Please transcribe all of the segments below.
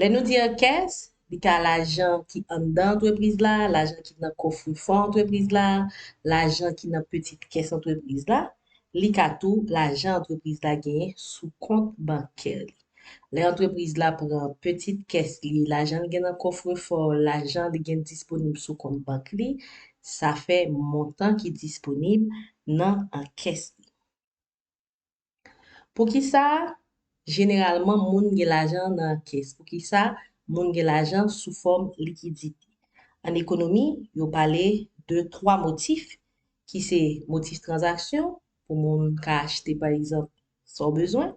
Lè nou di ankès, li ka lajan ki anndan antrepriz la, lajan ki nan kofrefò antrepriz la, lajan ki nan pitit kès antrepriz la. Li ka tou lajan antrepriz la genyen sou kont bankè li. Lè antrepriz la pran pitit kès li, lajan li gen nan kofrefò, lajan li gen disponib sou kont bank li, sa fè montan ki disponib nan ankès li. Poukisa jeneralman moun gen lajan nan kès? Poukisa moun gen lajan sou fòm likidite? An ekonomi, yo pale de twa motif ki se motif tranzaksyon pou moun ka achte pa egzanp sa w bezwen,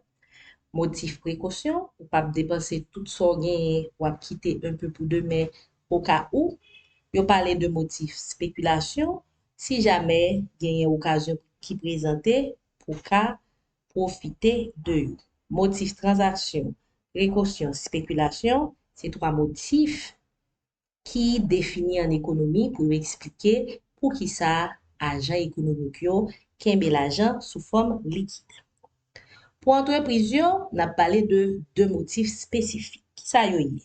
motif prekosyon ou pa p depanse tout sa w genyen w ap kite enpe pou demen okawou, yo pale de motif spekilasyon Si jamè genyen okazyon ki prezante pou ka pwofite de yo. Motif tranzaksyon, prekosyon, spekilasyon, se twa motif ki defini an ekonomi pou yo eksplike poukisa ajan ekonomik yo kenbe lajan sou fòm likid. Pou antrepriz yo, n ap pale de 2 motif espesifik. Ki sa yo ye?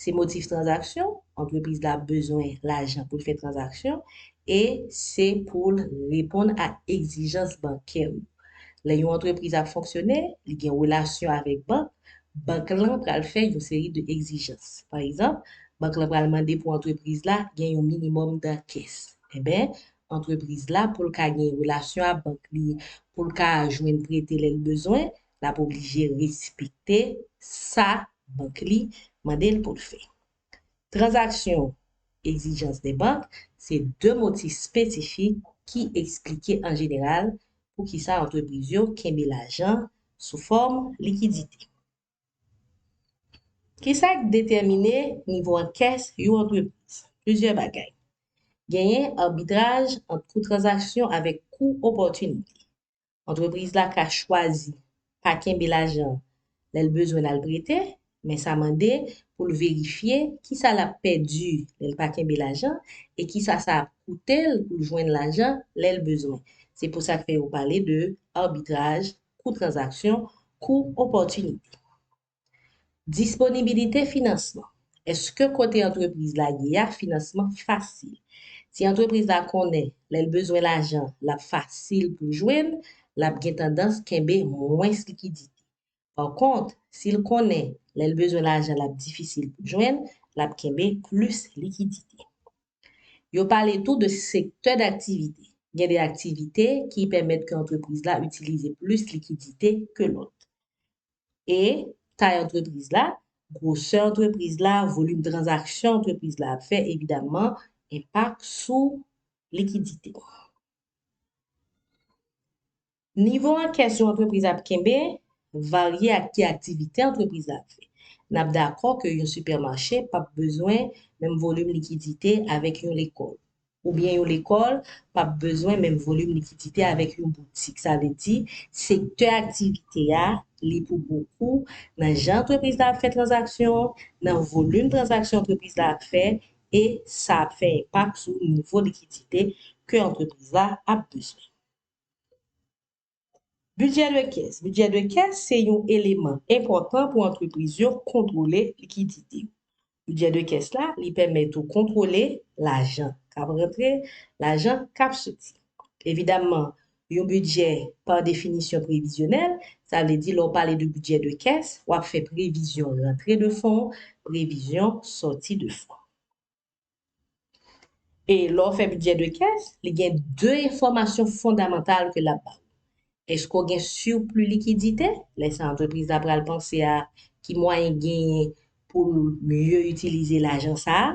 Se motif tranzaksyon, antrepriz la bezwen lajan pou l fè tranzaksyon, e se pou l reponn a egzijans bankè yo. Lè yon antrepriz ap fonksyone, li gen relasyon avèk bank, bank lan pral fè yon seri de egzijans. Pa egzanp, bank lan pral mande pou antrepriz la gen yon minimòm dan kès. Enben, antrepriz la pou l ka gen relasyon a bank li, pou l ka jwenn prete lè l bezwen, l ap oblije respekte sa bank li mande l pou l fè. Tranzaksyon Exigence des banques se de motif spesifik ki eksplike an jeneral poukisa antrepriz yo kenbe lajan sou fòm likidite. Ki sa k detèmine nivo ankès yon antrepriz? Plizyè bagay. Genyen arbitraj ant kou tranzaksyon avèk kou opòtinite. Antrepriz la ka chwazi pa kenbe lajan lè l bezwen l al prete, men sa mande pou l verifye ki sa l ap pèdi lè l pa kenbe lajan e ki sa sa ap koute l pou l jwenn lajan lè l bezwen. Se pou sa k fè yo pale de arbitraj kou tranzaksyon, kou opòtinite. Disponibilite finansman, Èske kote antrepriz la ye a finansman fasil? Si antrepriz la konnen lè l bezwen lajan l ap fasil pou l jwenn, l ap gen tandans kenbe mwens likidite. Pa kont, si l konnen lè l bezwen lajan l ap difisil pou l jwenn, l ap kenbe plis likidite. Yo pale tou de sektè daktivite. Gen de aktivite ki pèmèt ke antrepriz la itilize plis likidite ke lòt. E, tay antrepriz la, gwosè antrepriz la, volim tranzaksyon antrepriz la ap fè, evidamman, enpak sou likidite. Nivo ankès yon antrepriz ap kenbe varye ak ki aktivite antrepriz la ap fè. N ap dakò ke yon sipèmache p ap bezwen menm volim likidite avèk yon lekòl, oubyen yon lekòl p ap bezwen menm volim likidite avèk yon boutik. Sa vle di, sektè aktivite a li pou bokou nan jan antrepriz la ap fè tranzaksyon, nan volim tranzaksyon antrepriz la ap fè, e sa ap fè enpak sou nivo likidite ke antrepriz la ap bezwen. Bidjè de kès Bidjè de kès se yon eleman enpòtan pou antrepriz yo kontwole likidite yo. Bidjè de kès la, li pèmèt ou kontwole lajan k ap rantre, lajan k ap soti. Evidamman, yon bidjè pa definisyon previzyonèl, sa vle di lè w pale de bidjè de kès, w ap fè previzyon rantre de fon, previzyon sòti de fon. E lè w fè bidjè de kès, li gen 2 enfòmasyon fondamantal ke l ap ba w. Èske w gen sirpli likidite? Lè sa antrepriz la pral panse a ki mwayen genyen pou l mye itilize lajan sa a.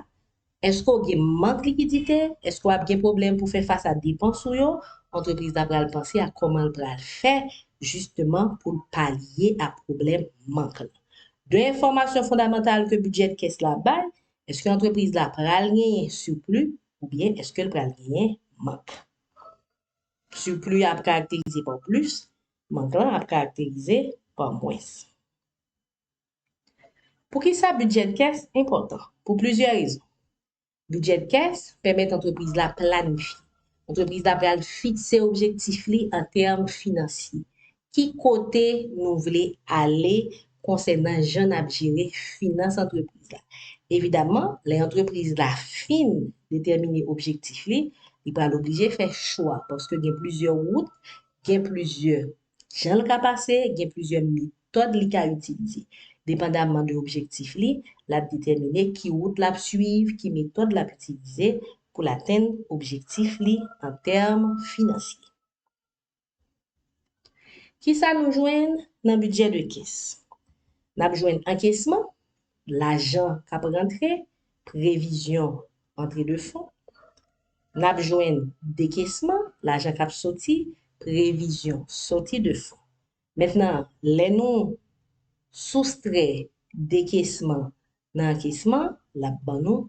Èske w gen mank likidite? Èske w ap gen pwoblèm pou fè fas a depans ou yo? Antrepriz la pral panse a kòman l pral fè jisteman pou l palye a pwoblèm mank la. 2 enfòmasyon fondamantal ke bidjè de kès la bay, Eske antrepriz la pral genyen sipli oubyen eske l pral genyen mank? Sipli a ap karakterize pa w plis, mank lan ap karakterize pa w mwens. Poukisa bidjè kès enpòtan? Pou plizyè rezon. Bidjè kès pèmèt antrepriz la planifye. Antrepriz la pral fikse objektif li an tèm finansye. Ki kote nou vle ale konsènan jan n ap jere finans antrepriz la? Evidaman, lè antrepriz la fin detèmine objektif li, li pral oblije fè chwa paske gen plizyè wout, gen plizyè Jan l ka pase, gen plizyè metòd li ka itilize. Depandamman de objektif li, l ap detèmine ki wout l ap suiv, ki metòd l ap itilize pou l atenn objektif li an tèm finansye. Kisa nou jwenn nan bidjè de kès? N ap jwenn ankesman, lajan k ap rantre, previzyon antre de fon, n ap jwenn dekesman, lajan k ap soti, previzyon soti de fon. Mentnan, lè nou soustrè dekesman nan ankesman, l ap ban nou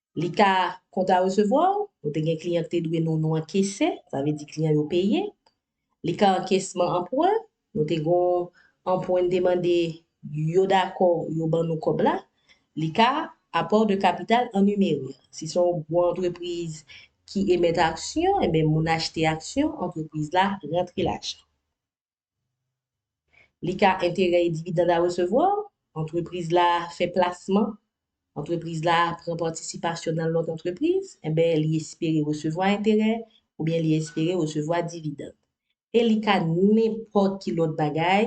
Li ka kontra resevwa w, nou te gen kliyan ki te dwe nou, nou ankese, sa vle di kliyan yo peye. Li ka ankesman anpwen, nou te gon anpwen n te mande, yo dakò yo ban nou kòb la. Li ka Apport de capital en numeri, si se yon gwo antrepriz ki emèt aksyon, enben moun achte aksyon, antrepriz la rantre lajan. Li ka enterè e dividand a resevwa, antrepriz la fè plasman, antrepriz la pran patisipasyon nan lòt antrepriz, enben li espere resevwa enterè oubyen li espere resevwa dividand. E li ka nenpòt ki lòt bagay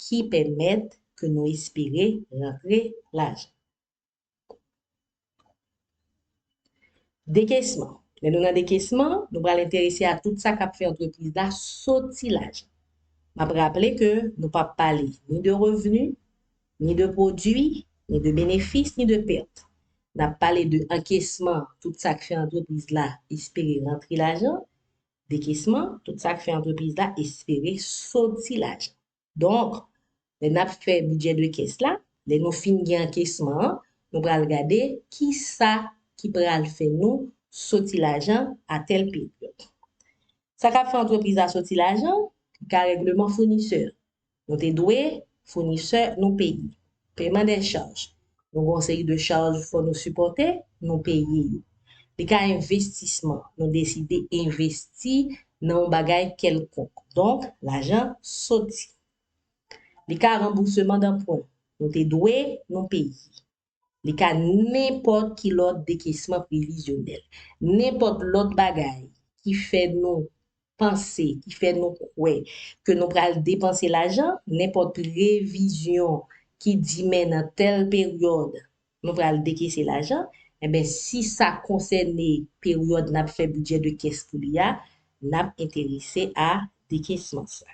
ki pèmèt ke nou espere rantre lajan. Dekesman. Lè nou nan dekesman, nou pral enterese a tout sa k ap fè antrepriz la soti lajan. M ap raple ke nou p ap pale ni de revni, ni de pwodui, ni de benefis, ni de pèt. N ap pale de ankesman, tout sa k fè antrepriz la espere rantre lajan, dekesman, tout sa k fè antrepriz la espere soti lajan. Donk, lè n ap fè bidjè de kès la, lè nou fin gen ankesman an, nou pral gade ki sa ki pral fè nou soti lajan a tèl peryòd. Sa k ap fè antrepriz la soti lajan? Li ka règleman founisè. Nou te dwe founisè nou peye. Peman dè chaj. Nou gen yon seri de chaj fò nou sipòte, nou peye yo. Li ka envestisman, nou deside envesti nan yon bagay kèlkonk, donk lajan soti. Li ka ranbouseman danpwen, nou te dwe, nou peye. Li ka nenpòt ki lòt dekesman previzyonèl. Nenpòt lòt bagay ki fè nou panse ki fè nou kwè ke nou pral depanse lajan, nenpòt previzyon ki di men nan tèl peryòd nou pral dekese lajan, enben si sa konsène peryòd n ap fè bidjè de kès pou li a, n ap enterese a dekesman sa.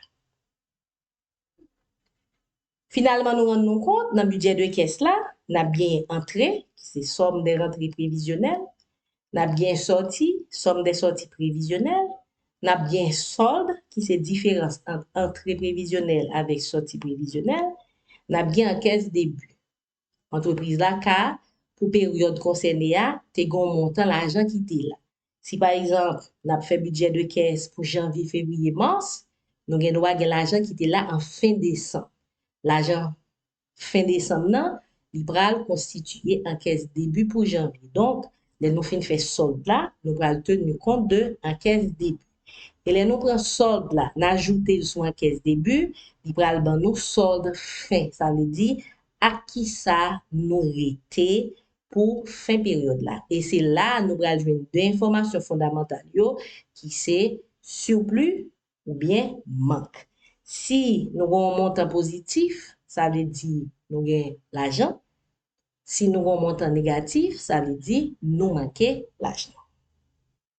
Finalman nou rann nou kont nan bidjè de kès la, n ap genyen antre, ki se sòm dè rantre previzyonèl, n ap genyen sòti, sòm dè sòti previzyonèl, n ap genyen sòld, ki se diferans ant antre previzyonèl avèk sòti previzyonèl, n ap gen ankès debi. antrepriz la ka, pou peryòd konsène a, te gen yon montan lajan ki te la. Si pa egzanp, n ap fè bidjè de kès pou janvye, fevriye, mas, nou gen dwa gen lajan ki te la an fen desanm. Lajan fen desanm nan, li pral konstitiye an kès debi pou janvye. Donk, lè nou fin fè sòld la, nou pral teni kont de an kès debi. E lè nou pran sòld la, n ajoute l sou ankès debi, li pral ban nou sòld fen. Sa vle di, ak kisa nou rete pou fen peryòd la. E se la a nou pral jwenn 2 enfòmasyon fondamantal yo ki se surplus oubyen mank. Si nou gen yon montan pozitif, sa vle di nou gen lajan. Si nou gen yon montan negatif, sa vle di nou manke lajan.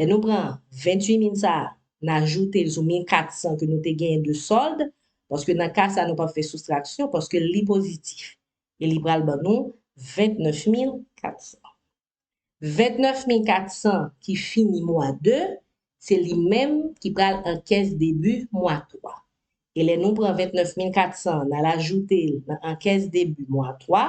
Lè nou pran 28 min sa a, n ajoute l sou 1400 ke nou te genyen de sòld, paske nan ka sa a nou p ap fè soustraksyon, paske li pozitif. E li pral ban nou 29 mil 400. 29 mil 400 ki fini mwa 2, se li menm ki pral an kès debi mwa 3. E lè nou pran 29 mil 400 an, n al ajoute l nan an kès debi mwa 3,